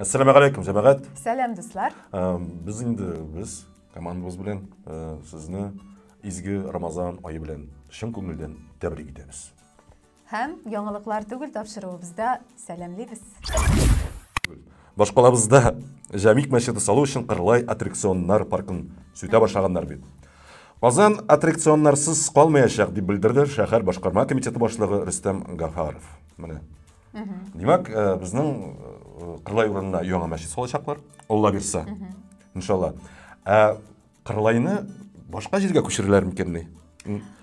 Ассаламу алейкум, жамагат. Сәлам, дуслар. Без инде без командабыз белән сезне изге Рамазан айы белән чын күңелдән тәбрик итәбез. Һәм яңалыклар түгел тапшыруыбызда сәламлибез. Башкалабызда Җәмик мәчете салу өчен Кырлай аттракционнар паркын сүтә башлаганнар бит. Казан аттракционнарсыз калмаячак, дип белдерде шәһәр башкарма комитеты башлыгы Рөстәм Гафаров. Менә. Димәк, э, безнең э, Кырлай урынына яңа мәчет салачаклар, Алла бирса. Иншалла. Ә Кырлайны башка җиргә күчерәләр микәнни?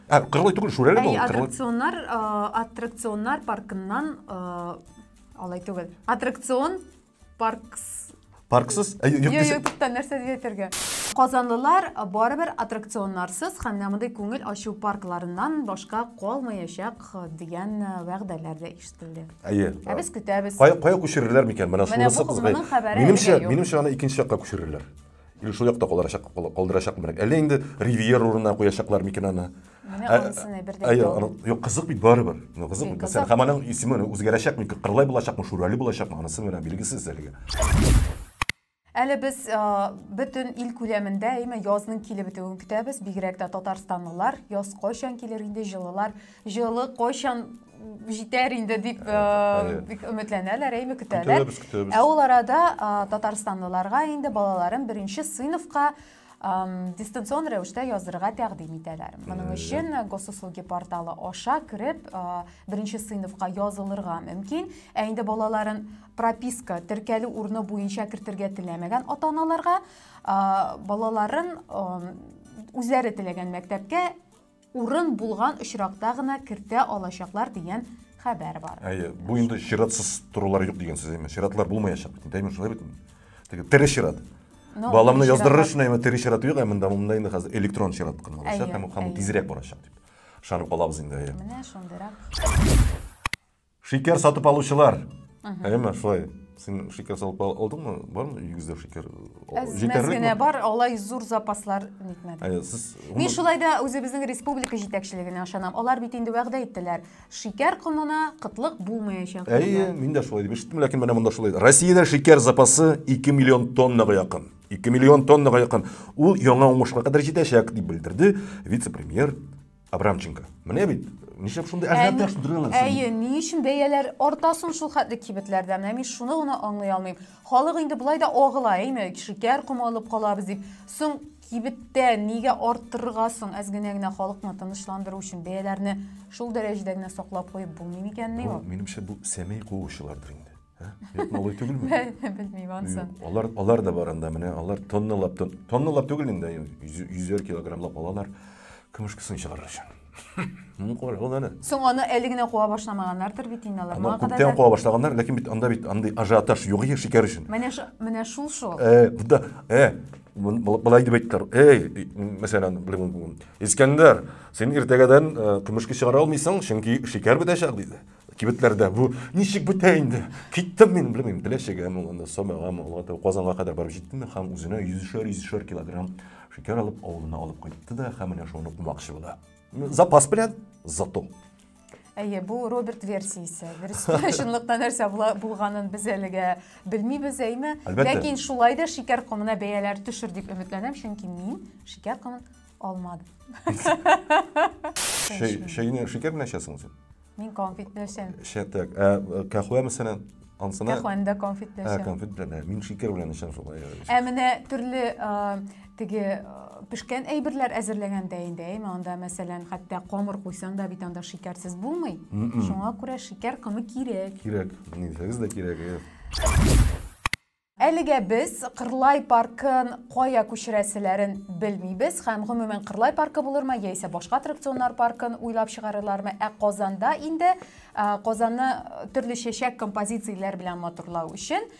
Ә, кырлай түгел, шүрәле Әй, аттракционнар, э, аттракционнар паркыннан э, алай түгел. Аттракцион паркс Парксыз? Ә, юк, юк, юк, туктан, нәрсә дип әйтергә? Казанлылар барыбер аттракционнарсыз һәм дә мондый күңел ачу паркларыннан башка калмаячак дигән вәгъдәләр дә ишетелде. Әйе. Ә без көтәбез. Кая кая күчерерләр микән? Менә шунысы кызгай. Минемчә, минемчә аны икенче якка күчерерләр. Или шул якта калдырачак, калдырачак мирак. Әллә инде Ривьер урынына куячаклар микән аны? Менә анысына э, бердән. Әйе, юк, кызык бит барыбер. Ну, кызык бит. Сәр Хаманың исеме үзгәрәчәкме, Кырлай булачакмы, Шурали булачакмы, анысы менә билгесез әлегә. Әле без э, бөтен ил күләмендә әйме язның килеп бетүен көтәбез, бигрәк тә татарстанлылар. Яз кайчан килер инде, җылылар Җылы кайчан җитәр инде дип э, э, бик өметләнәләр, әйме көтәләр. Көтәбез, көтәбез. Ә ул арада татарстанлыларга инде балаларын беренче сыйныфка дистанцион рәвештә язырга тәкъдим итәләр. Моның өчен госуслуги порталы аша кереп беренче сыйныфка язылырга мөмкин. Ә инде балаларын прописка теркәлү урыны буенча кертергә теләмәгән ата-аналарга балаларын үзләре теләгән мәктәпкә Урын булган очракта гына кертә алачаклар дигән хәбәр бар. Әйе, бу инде чиратсыз торулар юк дигән сүз әйме. Чиратлар булмаячак бит. Әйме шулай бит. Теге тере чират. Ну, Баламны тере яздырыр чират. өчен әйме тере чират юк, ә монда монда инде хәзер электрон чират кына Әйе, алачак һәм һәм әйе. тизрәк барачак дип. Ышанып калабыз инде әйе. Менә шундыйрак. Шикәр сатып алучылар. Әйеме, шулай. Син шикәр салып алдыңмы? Бармы өйегездә шикәр? Җитәрлек генә бар, алай зур запаслар нитмәде. Сез Мин шулай да үзебезнең республика җитәкчелегенә ышанам. Алар бит инде вәгъдә иттеләр. Шикәр комына кытлык булмаячак. Әйе, мин дә шулай дип ишеттем, ләкин менә монда шулай. Россиядә шикәр запасы 2 миллион тоннага якын. 2 миллион тоннага якын. Ул яңа уңышка кадәр җитәчәк, дип белдерде вице-премьер Абрамченко. Менә бит, нишләп шундый ажиотаж тудыра аласың? Әйе, ни өчен бәяләр арта соң шул хәтле кибетләрдә? Менә мин шуны гына аңлый алмыйм. Халык инде болай да агыла, әйме, шикәр комы алып калабыз дип. Соң кибеттә нигә арттырырга соң? Әз генә генә халыкны тынычландыру өчен бәяләрне шул дәрәҗәдә генә саклап куеп булмый микәнни ул? Минемчә бу сәмәй куучылардыр инде. Юк, малай түгелме? Белмим ансын. Алар алар да бар анда менә, алар тонналап тонналап түгел инде, йөзәр килограммлап алалар. Көмешкесен чыгарыр өчен. Ну, кара, ул аны. Соң аны әле генә куа башламаганнардыр бит инде алар. Аны күптән куа башлаганнар, ләкин бит анда бит андый ажиотаж юк иде шикәр өчен. Менә менә шул шул. Э, буда, э, былай дип әйттеләр. Эй, мәсәлән, Искәндәр, син иртәгәдән көмешке чыгара алмыйсың, чөнки шикәр бетәчәк диде. кибетләрдә бу ничек бетә инде киттем мин белмим теләчегәме ул анда самагамы ул казанга кадәр барып җиттем һәм үзенә йөзешәр йөзешәр килограмм шикәр алып авылына алып кайтты да һәм менә шуны кумакчы була запас белән зато Әйе, бу Роберт версиясе. Дөрестә чынлыкта нәрсә булганын без әлегә белмибез, әйме? Ләкин шулай да шикәр комына бәяләр төшер дип өметләнәм, чөнки мин шикәр комын алмадым. Шәйне шикәр белән эчәсең син? Мин конфет белән эчәм. Шәтәк. Ә э, кәхвә мәсәлән, ансына? Кәхвәне дә конфет белән эчәм. Ә, конфет белән. Ә, мин шикер белән эчәм шулай. Ә менә төрле э, теге э, пешкән әйберләр әзерләгәндә инде, әйме, анда мәсәлән, хәтта камыр куйсаң да бит анда шикәрсез булмый. Шуңа күрә шикәр комы кирәк. Кирәк. Нисәгез дә кирәк. Әлегә без Кырлай паркын кая күчерәселәрен белмибез һәм гомумән Кырлай паркы булырмы яисә башка аттракционнар паркын уйлап чыгарырлармы, ә Казанда инде Казанны төрле чәчәк композицияләр белән матурлау өчен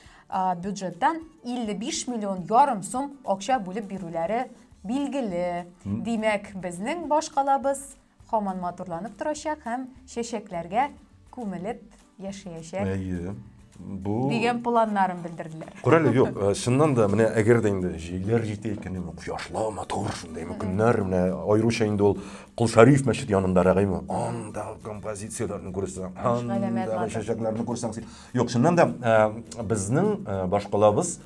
бюджеттан 55 миллион ярым сум акча бүлеп бирүләре билгеле. Димәк, безнең баш калабыз Хаман матурланып торачак һәм чәчәкләргә күмелеп яшәячәк. Әйе. Бу дигән планнарын белдерделәр. Күрәле, юк, э, чыннан да менә әгәр дә инде җилләр җитә икән, менә кояшлы, матур шундый көннәр, менә аеруча инде ул Кол Шәриф мәчете янындарак име? Анда композицияләрне күрсәң, анда чәчәкләрне күрсәң, юк, чыннан да э, безнең э, башкалабыз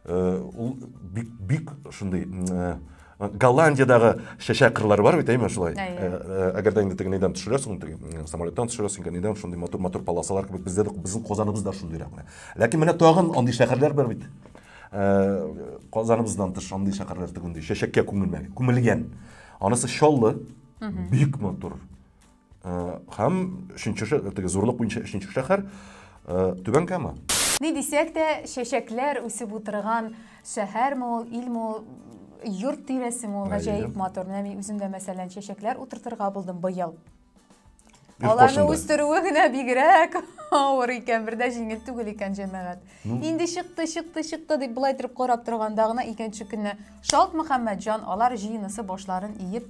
Э, ул бик бик шундый э, голландиядагы чәчәк кырлары бар бит әйме шулай әгәр дә инде теге нидән төшерәсең теге самолеттан төшерәсең икән нидән шундый матур матур полосалар кебек бездә безнең казаныбыз да шундыйрак менә ләкин менә тагын андый шәһәрләр бар бит э, казаныбыздан тыш андый шәһәрләр тегендәй чәчәккә күмелмәгән күмелгән анысы чаллы бик матур Һәм өченче шәһәр, теге зурлык буенча өченче шәһәр Түбән Кама. Ни дисәк тә, чәчәкләр үсеп утырган шәһәрме ул, илме ул, йорт тирәсеме ул, гаҗәеп матур. Менә мин үзем дә, мәсәлән, чәчәкләр утыртырга булдым быел. Аларны үстерүе генә бигрәк авыр икән, бер дә җиңел түгел икән, җәмәгать. Ну. Инде чыкты, чыкты, чыкты дип былай торып карап торганда гына икенче көнне шалт Мөхәммәтҗан алар җыенысы башларын иеп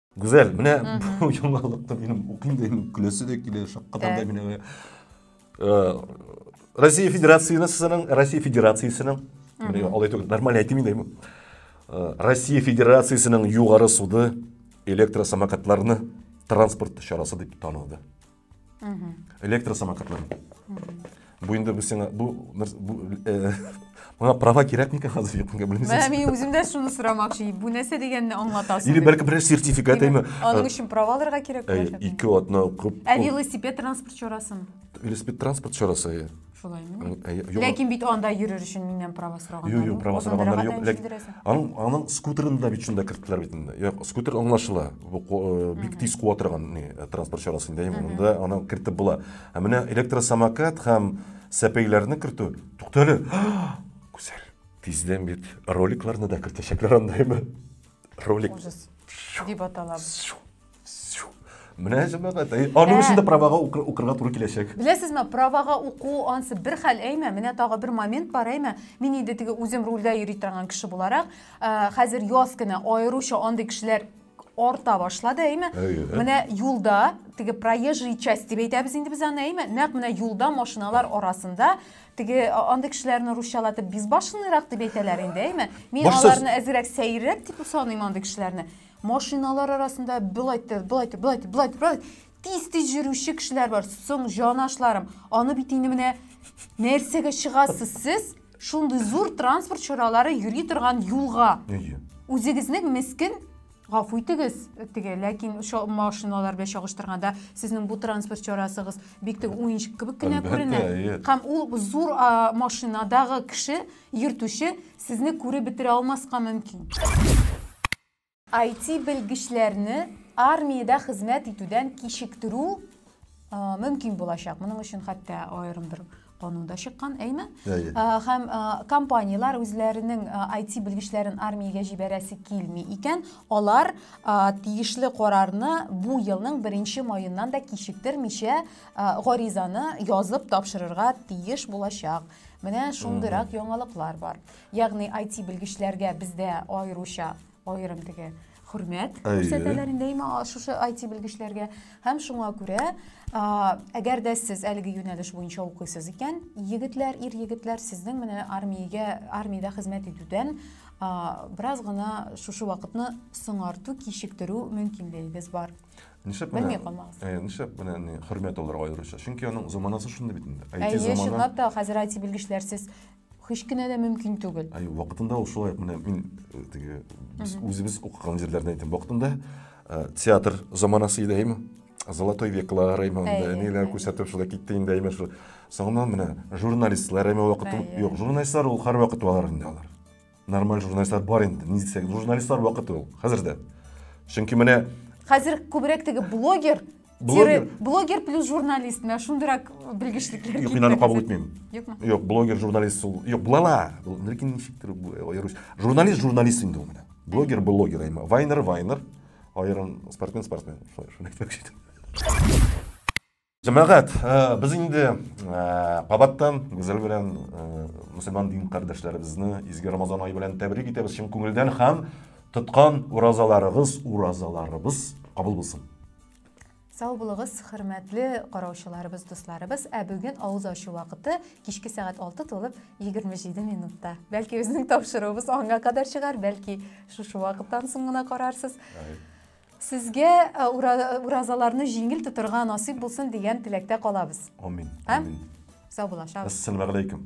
Гүзәл, менә бу яңалыкны минем укыйм да инде көләсе дә килә, шаккатам да менә. Э, Россия Федерациясенең, Россия Федерациясенең, менә алай түгел, нормаль әйтмим инде. Э, Россия Федерациясенең югары суды электросамокатларны транспорт чарасы дип таныды. электросамокатлар бу инде бу сиңа бу мына права кирәк микән хәзер якынга белмисез менә мин үзем дә шуны сорамакчы бу нәрсә дигәнне аңлатасың или бәлки берәр сертификат әйме аның өчен права алырга кирәк ике атна укып ә велосипед транспорт чарасын велосипед транспорт чарасы Шулай мени? Э, э, юк. Ләкин бит анда йөрер өчен миннән права сораганнар. Юк, юк, права сораганнар юк. Ләкин аның аның скутерын да бит шунда керттеләр бит инде. Юк, скутер аңлашыла. Бу э, бик тиз куа торган ни транспорт чарасы инде. Монда аны кертеп була. Ә менә электросамокат һәм сәпәйләрне кертү. Туктале. Күзәр. Тиздән бит роликларны да кертәчәкләр андаймы? Ролик. Дип аталабыз. Менә җәмәгать. Әй, Аның өчен дә правага укы- укырга туры киләчәк. Беләсезме, правага уку ансы бер хәл әйме, менә тагы бер момент бар әйме. Мин инде теге үзем рульдә йөри торган кеше буларак, ә, хәзер яз көне аеруча андый кешеләр арта башлады әйме. Әйе. Менә юлда, теге проезжий часть дип әйтәбез инде без аны әйме, нәкъ менә юлда машиналар арасында теге а, андый кешеләрне русчалатып безбашенныйрак дип әйтәләр инде әйме. Мин Башсыз. аларны әзрәк сәеррәк дип саныйм андый кешеләрне. Машиналар арасында былай да, былай да, былай да, былай да, былай тиз-тиз йөрүче кешеләр бар. Соң, җанашларым, аны бит инде менә нәрсәгә чыгасыз сез? Шундый зур транспорт чаралары йөри торган юлга. Әйе. Үзегезнең мескен гафу итегез, теге, ләкин шо машиналар белән чагыштырганда сезнең бу транспорт чарасыгыз бик теге уенчык кебек кенә Әлбәттә, күренә. әйе. Һәм ул зур а, машинадагы кеше Йөртүче сезне күреп бетерә алмаска мөмкин. Айти белгечләрне армиядә хезмәт итүдән кичектерү мөмкин булачак. Моның өчен хәтта аерым бер канун да чыккан, әйме? Һәм компанияләр үзләренең IT белгечләрен армиягә җибәрәсе килми икән, алар тиешле карарны бу елның беренче маеннан да кичектермичә гаризаны язып тапшырырга тиеш булачак. Менә шундыйрак яңалыклар бар. Ягъни IT белгечләргә бездә аеруча аерым теге хөрмәт күрсәтәләр инде имә шушы IT белгечләргә һәм шуңа күрә әгәр дә сез әлеге юнәлеш буенча укыйсыз икән егетләр ир егетләр сезнең менә армиягә армиядә хезмәт итүдән бераз гына шушы вакытны соңарту кичектерү мөмкинлегегез бар Нишләп менә? Белми калмагыз. Э, нишләп менә не хөрмәт алырга аеруча? Чөнки аның заманасы шундый бит инде. IT Әйе, заманы. чынлап та хәзер IT белгечләрсез һич кенә дә мөмкин түгел. Әйе, вакытында ул шулай менә мин э, теге без үзебез укыган җирләрдә әйтәм. Вакытында э, театр заманасы иде әйме? Золотой веклар әйме анда Әйе, ниләр әйе. күрсәтеп шулай китте инде әйме шул. Соңыннан менә журналистлар әйме вакыты. Әйе. Юк, журналистлар ул һәрвакыт алар инде алар. Нормаль журналистлар бар инде, ни дисәк, журналистлар вакыты ул, хәзер дә. Чөнки менә... Хәзер күбрәк теге блогер, блогер, блогер плюс журналист, менә шундырак белгечлектер. Юк, мин аны кабул итмим. Юкмы? Юк, блогер, журналист ул. Юк, булала. Ләкин ничектер аерыш. Журналист, журналист инде ул менә. Блогер, блогер, әйме. Вайнер, вайнер. Аерым спортсмен, спортсмен. Шулай, шулай әйтмәкче идем. Җәмәгать, э, без инде э, кабаттан Гүзәл белән э, мөселман дин кардәшләребезне изге Рамазан ае белән тәбрик итәбез чын күңелдән һәм тоткан уразаларыгыз, уразаларыбыз кабул булсын. Сау булыгыз, хөрмәтле караучыларыбыз, дусларыбыз. Ә бүген авыз ачу вакыты кичке сәгать 6 тулып 27 минутта. Бәлки безнең тапшыруыбыз аңа кадәр чыгар, бәлки шушы вакыттан соң гына карарсыз. Сезгә уразаларны җиңел тотырга насыйп булсын дигән теләктә калабыз. Амин. Амин. Сау булашабыз. Ассаламу алейкум.